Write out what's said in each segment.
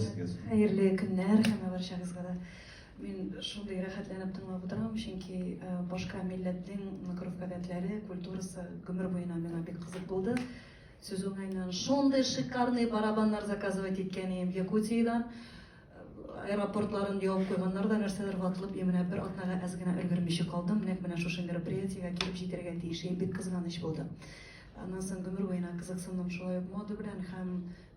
Сезгә зур. Хәерле көннәр һәм барчагызга да. Мин шундый рәхәтләнеп тыңлап утырам, чөнки башка милләтнең гореф-гадәтләре, культурасы гомер буена миңа бик кызык булды. Сүз уңаеннан, шундый шикарный барабаннар заказывать иткән идем Якутиядән. Аэропортларын явып куйганнар да, нәрсәдер ватылып, и менә бер атнага әз генә өлгермичә калдым. Нәкъ менә шушы мероприятиегә килеп җитәргә тиеш идем, бик кызганыч булды. Аннан соң гомер буена кызыксындым шулай ук мода белән һәм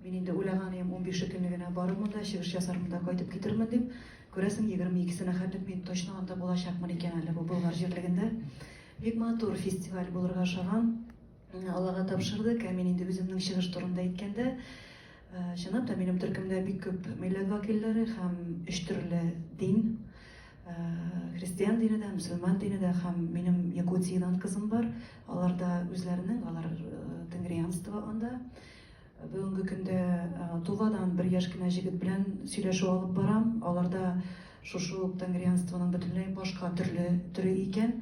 Мин инде уйлаганыем, унбише көнне генә барырмын да, чыгыш ясармын да кайтып китермен дип. Күрәсең, егерме икесенә хәтлек мин точно анда булачакмын икән әле бу Болгар җирлегендә. Бик матур фестиваль булырга ышанам. Аллага тапшырдык, ә мин инде үземнең чыгыш турында әйткәндә, э, чынлап та минем төркемдә бик күп милләт вәкилләре һәм өч төрле дин, э, христиан дине дә, мөселман дине дә һәм минем Якутиядән кызым бар. Аларда үзләренең, алар э, тенгрианство анда. Бүгенге көндә Тувадан бер яшь кенә җегет белән сөйләшү алып барам. Аларда шушы ук тангрианствоның бөтенләй башка төрле төре икән.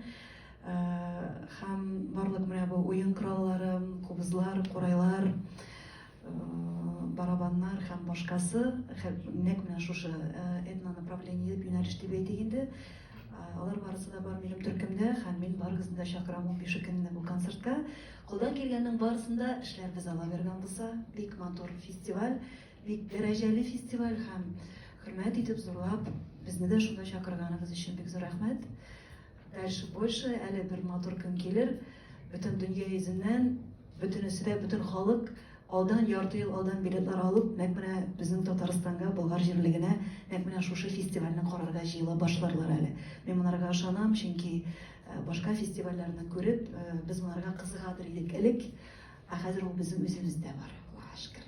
Һәм барлык менә бу уен кораллары, кубызлар, курайлар, барабаннар һәм башкасы, нәкъ менә шушы этнонаправление, юнәлеш дип әйтик инде, алар барысы да бар минем төркемдә һәм мин барыгызны да чакырам унбише көнне бу концертка. Кулдан килгәннең барысын да эшләрбез Алла биргән булса. Бик матур фестиваль, бик дәрәҗәле фестиваль һәм хөрмәт итеп зурлап безне дә шунда чакырганыгыз өчен бик зур рәхмәт. Дальше больше әле бер матур көн килер. Бөтен дөнья йөзеннән бөтенесе дә бөтен халык алдан ярты ел алдан билетлар алып, нәкъ менә безнең Татарстанга, Болгар җирлегенә нәкъ менә шушы фестивальне карарга җыела башларлар әле. Мин монарга ышанам, чөнки Башка фестивальләрне күреп, без монарга кызыгадыр идек элек, ә хәзер ул безнең үзебездә бар, Аллага шөкер.